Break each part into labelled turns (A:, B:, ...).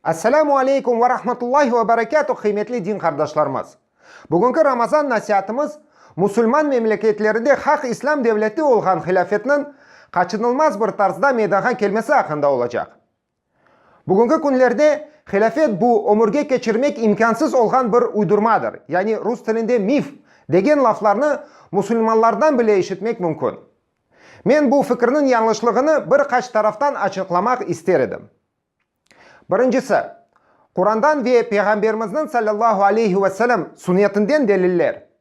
A: Esselamu aleykum ve rahmetullahi ve berekâtuh qıymetli din qardaşlarımız! Bugünki Ramazan nasiatımız musulman memleketlerinde haq İslâm devleti olğan hilâfetniñ qaçınılmaz bir tarzda meydanğa kelmesi aqqında olacaq. Bugünki künlerde hilâfet bu ömürge keçirmek imkânsız olğan bir uydurmadır, yani rus tilinde mif, degen laflarnı musulmanlardan bile eşitmek mümkün. Men bu fikirniñ yañlışlığını bir qaç taraftan açıqlamaq ister edim. Birincisi, Qurandan ve Peyğamberimizniñ sallallahu aleyhi ve sellem sünnetinden deliller.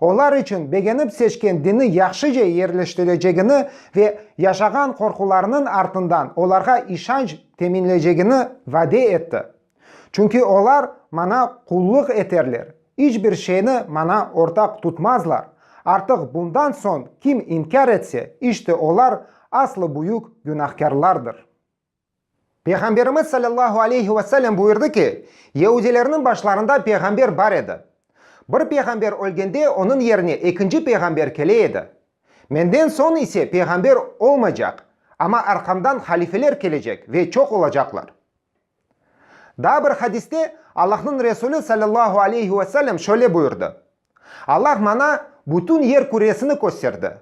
A: Olar içün begenip seçken dini yahşıca yerleştirecegini ve yaşağan qorqularınıñ artından olarğa işanç teminlecegini vade etti. Çünki olar Maña qullıq eterler, iç bir şeyni Maña ortaq tutmazlar, artıq bundan soñ kim inkâr etse, işte olar aslı büyük günahkârlardır. Peyğamberimiz sallallahu aleyhi ve sellem buyurdı ki, Yeudilerniñ başlarında peyğamber bar edi. Bir peyğamber ölgende onıñ yerine ekinci peyğamber kele edi. Menden soñ ise peyğamber olmaycaq, amma arqamdan halifeler kelecek ve çoq olacaqlar. Daa bir hadiste Allahnıñ Resulü sallallahu aleyhi ve sellem şöyle buyurdı, Allah maña bütün yer küresini kösterdi,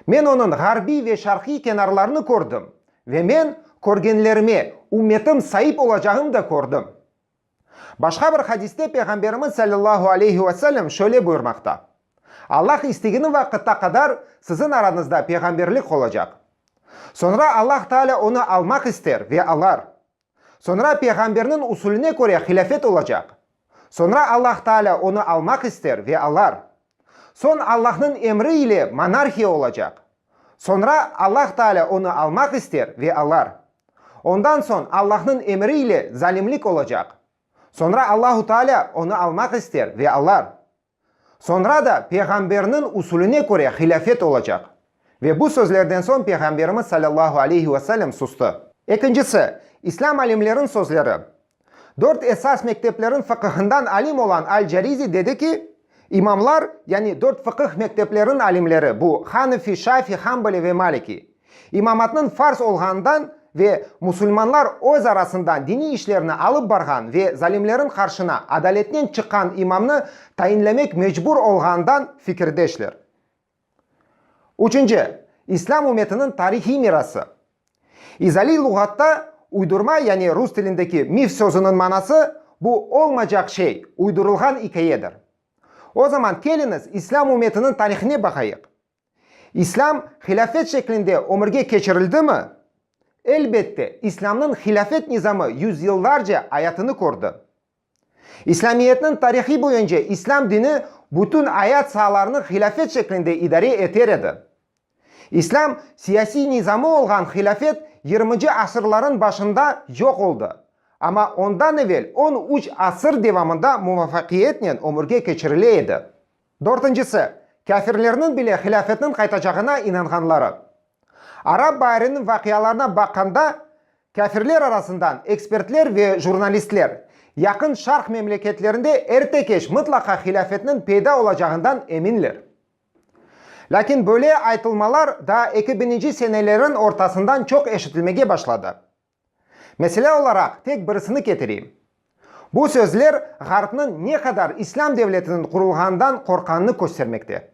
A: Men onıñ ğarbiy ve şarqiy kenarlarını kördim, ve men körgenlerime ümmetim saip olacağını da kördim. Başqa bir hadiste Peyğamberimiz salâllahu aleyhi ve sellem şöyle buyurmaqta, Allah istegeni vaqıtta qadar siziñ aranızda peyğamberlik olacaq. Soñra Allah Taalâ onı almaq ister ve alar. Soñra peyğamberniñ usulüne köre hilâfet olacaq. Soñra Allah Taalâ onı almaq ister ve alar. Soñ Allahnıñ emri ile monarhiya olacaq. Soñra Allah Taalâ onı almaq ister ve alar. Ondan soñ Allahnıñ emri ile zalimlik olacaq. Soñra Allahu Taalâ onı almaq ister ve alar. Soñra da Peyğamberniñ usulüne köre hilâfet olacaq. Ve bu sözlerden soñ Peyğamberimiz salâllahu aleyhi ve sellem sustı. Ekincisi, İslâm alimleriñ sözleri. Dört esas mektepleriñ fıqıhından alim olan Al-Carizi dedi ki, İmamlar, yani dört fıqıh mektepleriñ alimleri, bu, Hanefi, Şafi, Hambali ve Maliki, İmamatnıñ farz olğanından ve musulmanlar öz arasından diniy işlerni alıp barğan ve zalimleriñ qarşına adaletnen çıqqan imamnı tayinlemek mecbur olğanından fikirdeşler. Üçünci, İslâm ümmetiniñ tarihiy mirası. İzaliy luğatta uydurma, yani rus tilindeki mif sözüniñ manası, bu olmacaq şey, uydurılğan ikayedir. O zaman keliñiz İslâm ümmetiniñ tarihine baqayıq. İslâm hilâfet şeklinde ömürge keçirildimi? Elbette, İslâmnıñ hilâfet nizamı yüzyıllarca ayatını kördi. İslâmiyetniñ tarihi boyunca İslâm dini bütün ayat saalarını hilâfet şeklinde idare eter edi. İslâm siyasiy nizamı olğan hilâfet yirminci asırların başında yoq oldı, amma ondan evel on üç asır devamında muvafaqiyetnen ömürge keçirile edi. Dörtüncisi, kâfirlerniñ bile hilâfetniñ qaytacağına inanğanları. Arap baariniñ vaqialarına baqqanda, kâfirler arasından ekspertler ve jurnalistler Yaqın Şarq memleketlerinde erte-keç mıtlaqa hilâfetniñ peyda olacağından eminler. Lâkin böyle aytılmalar daa eki bininci seneleriñ ortasından çoq eşitilmege başladı. Mesele olaraq tek birisini ketireyim. Bu sözler Ğarpnıñ ne qadar İslâm devletiniñ qurulğanından qorqqanını köstermekte.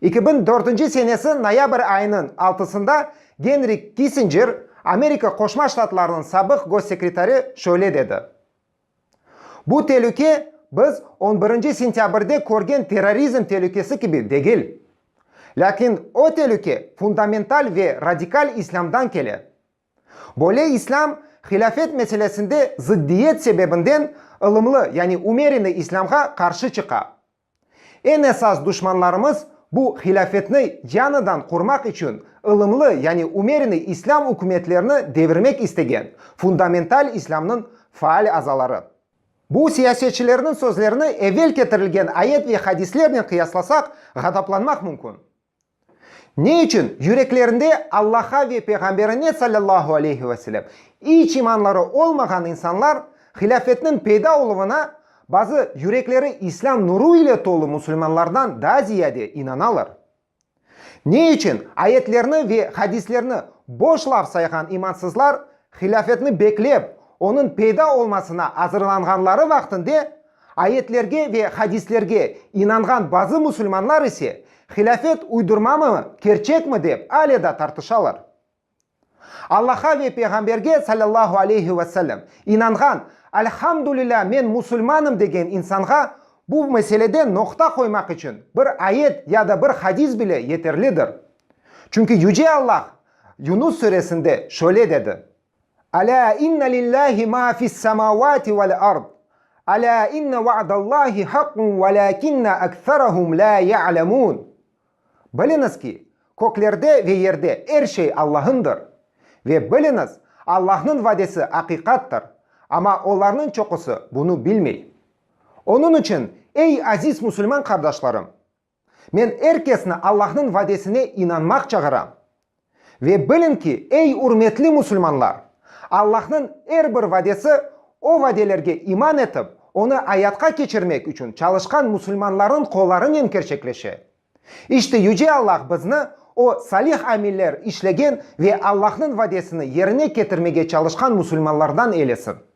A: Eki biñ dörtünci senesi noyabr ayınıñ altısında Genrik Kissinjer, Amerika Qoşma Ştatlarınıñ sabıq gossekretari şöyle dedi, Bu telüke biz on birinci sentâbrde körgen terrorizm telükesi kibi degil. Lâkin o telüke fundamental ve radikal islâmdan kele. Böyle islâm hilâfet meselesinde zıddiyet sebebinden ılımlı, yani umereni islâmğa qarşı çıqa. Eñ esas duşmanlarımız bu hilâfetni yañıdan qurmaq içün ılımlı, yani umerinıy islâm ükümetlerini devirmek istegen fundamental islâmnıñ faal azaları. Bu siyasetçilerniñ sözlerini evel ketirilgen ayet ve hadislernen qıyaslasak, ğadaplanmaq mümkün. Ne içün? Yüreklerinde Allah'a ve Peyğamberine sallallahu aleyhi ve selem iç imanları olmağan insanlar hilâfetniñ peyda oluvına bazı yürekleri İslâm nuru ile tolu musulmanlardan daa ziyade inanalar. Ne içün? Ayetlerni ve hadislerni boş laf sayğan imansızlar hilâfetni beklep, onıñ peyda olmasına azırlanğanları vaqtinde Ayetlerge ve hadislerge inanğan bazı musulmanlar ise, hilâfet uydurmamı, kerçekmi dep ale da tartışalar. Allah'a ve Peyğamberge, salâllahu aleyhi ve sellem, inanğan, Alhamdulilâ, men musulmanım degen insanğa bu meselede noqta qoymaq içün bir ayet ya da bir hadis bile yeterlidir. Çünki Yüce Allah Yunus Suresinde şöyle dedi. Alâ inne lillâhi mâ fissemâvâti vel-ard, alâ inne vaadallâhi haqqun velâkinne ekserahum lâ ye'lemûn, Biliñiz ki, köklerde ve yerde er şey Allahındır, ve, biliñiz, Allahnıñ vadesi aqiqattır, amma olarnıñ çoqusı bunı bilmey. Onıñ içün, ey aziz musulman qardaşlarım! Men er kesni Allahnıñ vadesine inanmaq çağıram. Ve biliñ ki, ey ürmetli musulmanlar, Allahnıñ er bir vadesi, o vadelerge iman etip, onı ayatqa keçirmek içün çalışqan musulmanlarnıñ qollarınen kerçekleşe. İşte Yüce Allah bizni o salih amiller işlegen ve Allahnıñ vadesini yerine ketirmege çalışqan musulmanlardan eylesin.